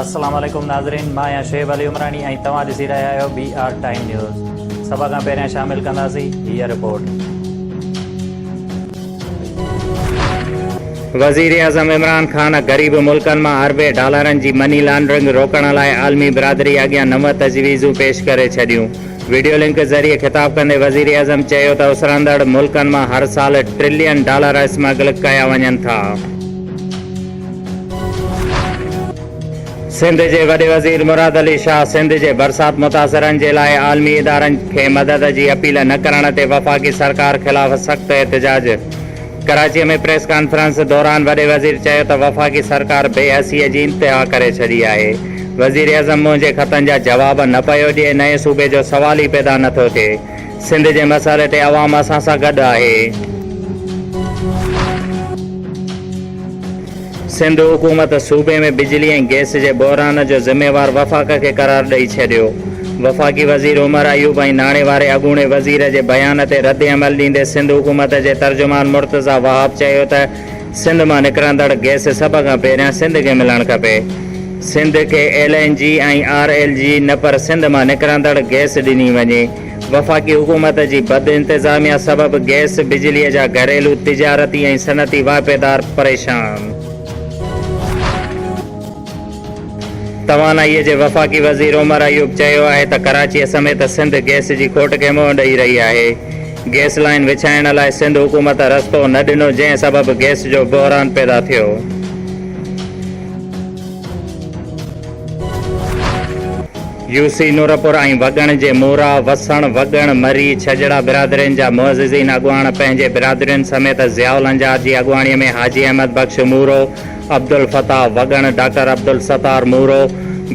السلام عليڪم ناظرين مان آهيان شعيب علي عمراڻي ۽ توهان ڏسي رهيا آهيو بي آر ٽائيم نيوز سڀ کان پهريان شامل ڪنداسين هيء رپورٽ وزيراعظم عمران خان غريب ملڪن مان اربين ڊالرن جي مني لانڊرنگ روڪڻ لاء عالمي برادري اڳيان نو تجويزون پيش ڪري ڇڏيون وڊيو لنڪ ذريعي خطاب ڪندي وزيراعظم چيو ته اسرندڙ ملڪن مان هر سال ٽرلين ڊالر اسمگل ڪيا وڃن ٿا. سنڌ جي وڏي وزير مراد علي شاهه سنڌ جي برسات متاثرن جي لاء عالمي ادارن کي مدد جي اپيل نه ڪرڻ تي وفاقي سرڪار خلاف سخت احتجاج. ڪراچيء ۾ پريس ڪانفرنس دوران وڏي وزير چيو ته وفاقي سرڪار بي حسيء جي انتها ڪري ڇڏي آهي، وزيراعظم منهنجي خطن جا جواب نه پيو ڏئي، نئين صوبي جو سوال ئي پيدا نه ٿو ٿئي، سنڌ جي مسئلي تي عوام اسان سان گڏ آهي. سنڌ حڪومت صوبي ۾ بجلي ۽ گئس جي بحران جو ذميوار وفاق کي قرار ڏئي ڇڏيو. وفاقي وزير عمر ايوب ۽ ناڻي واري اڳوڻي وزير جي بيان تي ردعمل ڏيندي سنڌ حڪومت جي ترجمان مرتضيٰ وهاب چيو ته سنڌ مان نڪرندڙ گئس سڀ کان پهريان سنڌ کي ملڻ کپي. سنڌ کي L N G ۽ R L G نه پر سنڌ مان نڪرندڙ گئس ڏني وڃي. وفاقي حڪومت جي بد انتظاميا سبب گئس، بجلي جا گهريلو، تجارتي ۽ صنعتي واهپيدار پريشان. توانائيء جي وفاقي وزير عمر ايوب چيو آهي ته ڪراچيء سميت سنڌ گئس جي کوٽ کي منهن ڏئي رهي آهي. گئس لائين وڇائڻ لاء سنڌ حڪومت رستو نه ڏنو جنهن سبب گئس جو بحران پيدا ٿيو. يو سي نورپور ۽ وڳڻ جي مورا، وسڻ، وڳڻ، مري، ڇڄڙا برادرين جا معززين اڳواڻ پنهنجي برادرين سميت ضياء الانجار جي اڳواڻيء ۾ حاجي احمد بخش مورو، عبدالفتاح، وڳڻ، ڊاڪٽر عبدالستار مورو،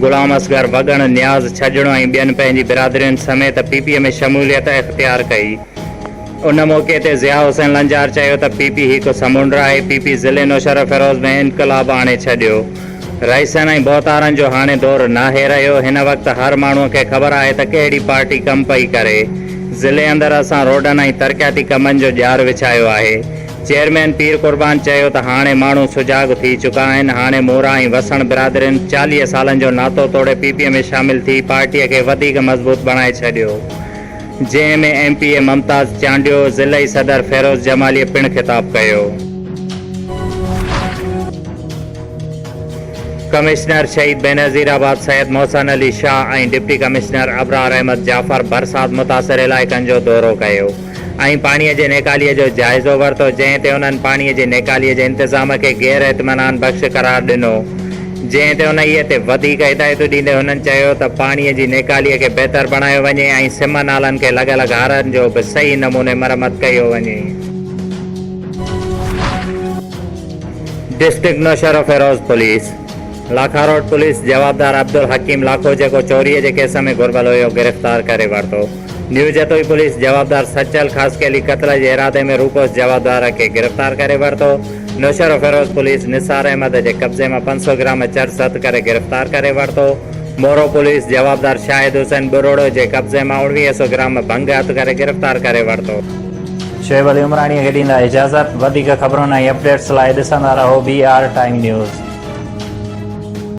غلام اصغر، وڳڻ، نياز، ڇڄڙو ۽ ٻين پنهنجي برادرين سميت پ پ ۾ شموليت اختيار ڪئي. ان موقعي تي ضياء حسين لنجار چيو ته پي پي هڪ سمنڊ آهي، پي پي ضلعي نوشهروفيروز ۾ انقلاب آڻي ڇڏيو، رئيسن ۽ ڀوتارن جو هاڻي دور ناهي رهيو، هن وقت هر ماڻهو کي خبر آهي ته ڪهڙي پارٽي ڪم پئي ڪري، ضلعي اندر اسان روڊن ۽ ترقياتي ڪمن جو ڄار وڇايو آهي، چيئرمين پير قربان چيو ته هاڻي ماڻهو سجاڳ ٿي چڪا آهن، هاڻي مورا ۽ وسڻ برادرين چاليهه سالن جو ناتو توڙي پي پي ۾ شامل ٿي پارٽي کي وڌيڪ مضبوط بڻائي ڇڏيو، جنهن ۾ M P A Mumtaz Chandio ضلعي صدر فيروز جماليء پڻ خطاب ڪيو. Commissioner Shaheed Benazirabad Syed Mohsin Ali Shah ۽ deputy commissioner Abrar Ahmed Jafar برسات متاثر علائقن جو دورو ڪيو ۽ پاڻي جي نيڪالي جو جائزو ورتو جنهن تي انهن پاڻي جي نيڪالي جي انتظام کي غير اطمينان بخش قرار ڏنو جنهن تي انهيء تي وڌيڪ هدايتون ڏيندي هنن چيو ته پاڻيء جي نيڪاليء کي بهتر بڻايو وڃي ۽ سم نالن کي لڳل غارن جو به صحيح نموني مرمت ڪيو وڃي. District Naushahro Feroze police Lakha road police جوابدار عبدالحڪيم لاکو جيڪو چوريء جي ڪيس ۾ گهربل هيو گرفتار ڪري ورتو. نيو جتوئي پوليس جوابدار سچل خاصخيلي قتل جي ارادي ۾ روڪوس جوابدار کي گرفتار ڪري ورتو، نوشهروفيروز پوليس نثار احمد جي قبضي مان پنج سؤ گرام چرس هٿ ڪري گرفتار ڪري ورتو، مورو پوليس جوابدار شاهد حسين ٻروڙو جي قبضي مان اوڻويهه سؤ گرام ڀنگ هٿ ڪري گرفتار ڪري ورتو. شعيب علي عمراڻيء کي ڏيندا اجازت. وڌيڪ خبرن ۽ اپڊيٽس لاء ڏسندا رهو بي آر ٽائيم نيوز.